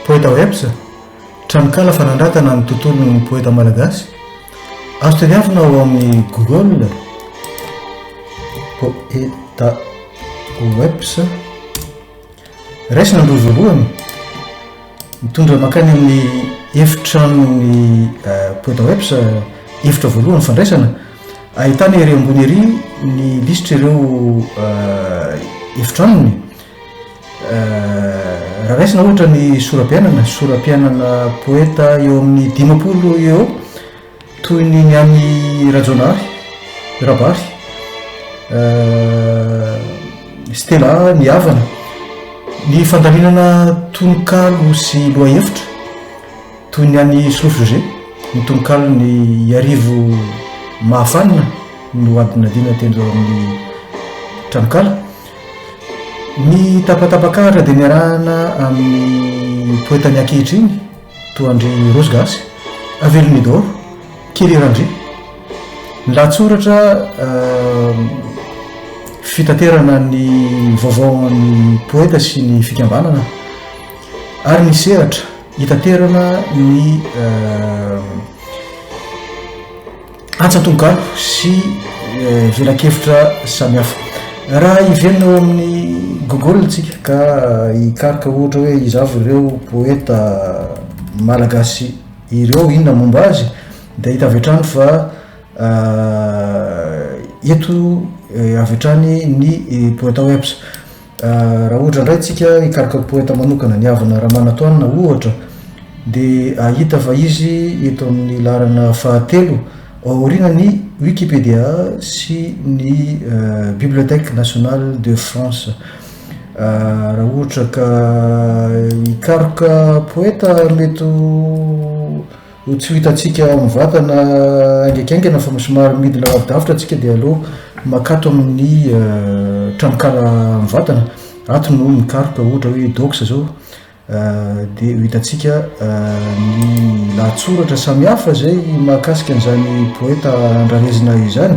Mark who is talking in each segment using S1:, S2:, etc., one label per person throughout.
S1: Poeta Webs, tranonkala fanandratana ny tontolon'ny poeta malagasy. Azo tadiavina ao amin'ny Google Poeta Webs. Raisina ny roa voalohany, mitondra mankany amin'ny efitranon'ny Poedawebs, efitra voalohany fandraisana, ahitana ery ambony ery ny lisitra ireo efitranony. Raha raisina ohatra ny sora-piainana, sora-piainana poeta eo amin'ny dimampolo eo eo, Toy ny ny an'i Rajaonary, Rabary, Stella, ny havana, ny fandaminana tononkalo sy lohahevitra, toy ny an'i Solofo José, ny tononkalon'i Iarivo Mahafanina no adinadina tendro eo amin'ny tranonkala. Ny tapatapakahatra dia niarahana amin'ny poetany ankehitriny, Toa an-dry Rose gasy. Avelomio daholo. Kely eran-dry. Ny lahatsoratra fitaterana ny vaovao an'ny poeta sy ny fikambanana ary ny sehatra hitaterana ny Antsan-tohagalo sy velakevitra samihafa. Raha hiverina eo amin'ny Google isika ka hikaroka ohatra hoe iza avy ireo poeta malagasy ireo, inona momba azy, dia hita avy hatrany fa eto avy hatrany ny poeta webs. Raha ohatra indray tsika hikaroka poeta manokana, ny havana Ramanantoanina ohatra, dia hahita fa izy eto amin'ny laharana fahatelo ao aoriana ny Wikipedia sy ny Bibliothèque Nationale de France. Raha ohatra ka hikaroka poeta mety ho. Ho tsy ho hitantsika mivantana haingaikaingana fa somary midina lavidavitra antsika dia aleo makato amin'ny tranonkala mivantana. Ato no mikaroka ohatra hoe docs izao dia ho hitantsika ny lahatsoratra samihafa izay mahakasika an'izany poeta andrarezina izany.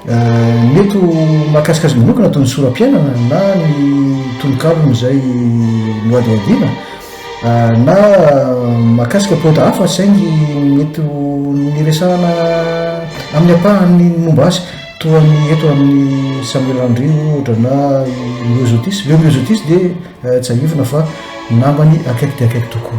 S1: Mety ho mahakasika azy manokana toy ny soram-piainana na ny tononkalony izay nohadihadiana, na mahakasika poeta hafa saingy mety ho niresahana amin'ny ampahany momba azy toa ny eto amin'ny Samuel Andry ohatra na i Myosotis. Leo Myosotis dia tsiahivina fa namany akaiky dia akaiky tokoa.